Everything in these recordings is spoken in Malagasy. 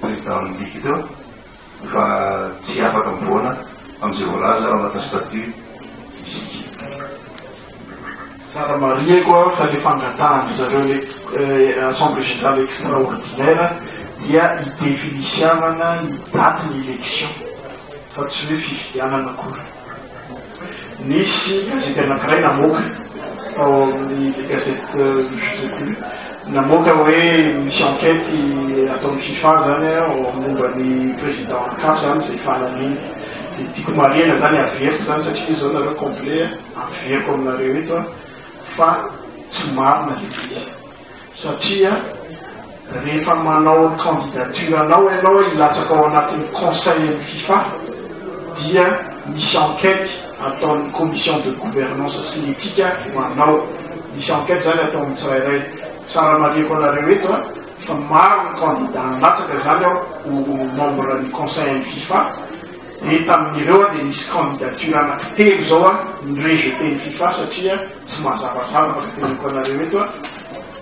Président midika teo fa tsy afaka mivoana amin'izay voalaza ao anatin'ny statut isika. Tsara marihiko fa ilay fangatahan-dry zareo ilay Assemblée Générale Extraordinaire dia hi-definisiavana ny datin'ny élection fa tsy hoe fifidianana akory. Nisy gazety anankiray namoaka ao amin'ny gazety euh, namoaka hoe misy enquête ataon'ny FIFA zany ao momba ny président cap zany izay fanamiany. Dia tiako marihana zany averiko zany satria izao nareo complet averiko aminareo eto fa tsy marina ilay izy. Satria rehefa manao ny candidature anao ianao hilatsaka ao anatin'ny conseil an'ny fifa dia misy enquete ataon'ny commission de gouvernance sy ny etika ho anao. Misy enquete izany atao amin'ny tsirairay. Tsara marihiko anareo eto a, fa maro ny candidats nilatsaka izany ao ho membre ny conseil an'ny fifa, dia tamin'ireo dia nisy candidature anaky telo izao a, ni-rejeter ny fifa satria. Tsy mazavazava fa teneniko anareo eto a,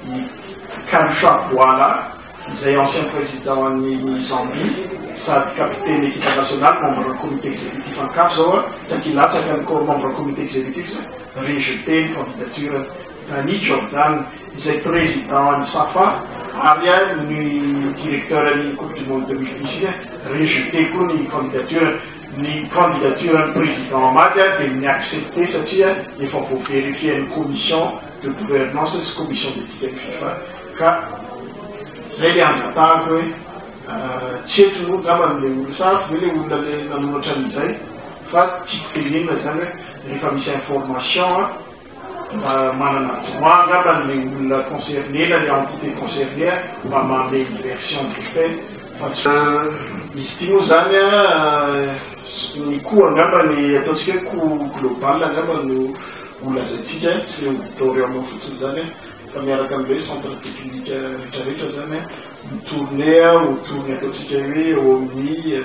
i Kalusha Bwala izay ancien président an'i Zambie sady capitaine équipe nationale membre ny comité exécutif an'i caf zao a, saingy latsaka ny membre comité exécutif zay, rejeté ny candidature-ny. Danny Jordan izay président an'i Safa ary a ny directeur an'iny coupe du monde deux mille dix iny a, rejeté koa ny candidature-ny. Ny candidature an'i Président Amady ary dia ni-accepter satria efa voaverifier-n'ny Commission de gouvernance sy Commission d'éthique an'i Fifa ka izay ilay angatahako hoe tsy eto moa angamba no ilay olona sa avy ve ilay olona ilay nanoratra an'izay fa tiako tenenina izany hoe rehefa misy information Mba manana droit angamba le olona concerné na le entité concernée mba manome ny version du fait fa tsy Euh, izy ity moa zany an, ny coût angamba ny ataontsika hoe coût global angamba no ho lazaintsika an, tsy le auditorium fotsiny zany an, fa miaraka am le centre technique retraretra zany an, ho tourner an, ho tourner ataontsika hoe eo amin'ny.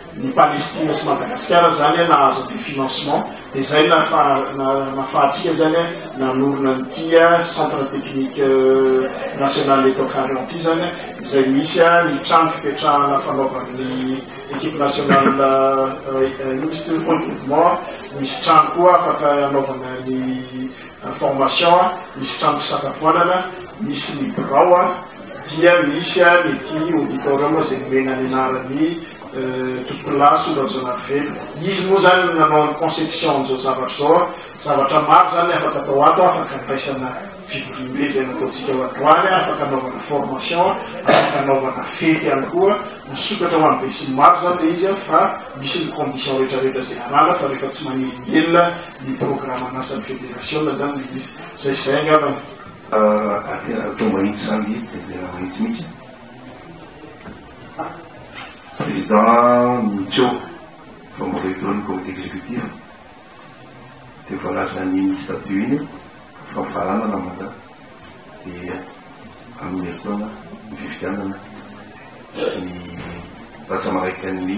ny Palestina sy Madagasikara zany nahazo an'ity financement dia zay nafahantsika zany nanorina an'ity centre technique national eto Ankariano ity zany izay misy ny trano fipetrahana fanaovan'ny equipe nationale ino moa izy teo, pole mouvement, misy trano koa afaka hanaovana ny information a, misy trano fisakafoanana, misy ny birao a, dia misy a ny ity auditorium izay nomena ny anaran'ny tokolaso Rajaonarivelo. Izy moa izany no nanao ny conception an'izao zavatra izao a, zavatra maro izany ny afaka atao ato a, afaka andraisana fivoriambe izay nataontsika ho androany a, afaka anaovana formation a, afaka anaovana fety ihany koa, misokatra ho an'ny besinimaro izany ilay izy a, fa misy ny condition rehetra rehetra izay ananana fa rehefa tsy manelingelina, ny programan'asan'ny federasiona izany ilay izy. Izay sy izay angamba no. Atao mahitsy izany ilay izy dia tena mahitsy mihitsy. Président Nico, fa mbola eo daholo ny comité exécutif, dia voalaza ny statut iny fa mifaranana mandat dia amin'ny herintaona ny fifidianana ny rantsamarain'ny.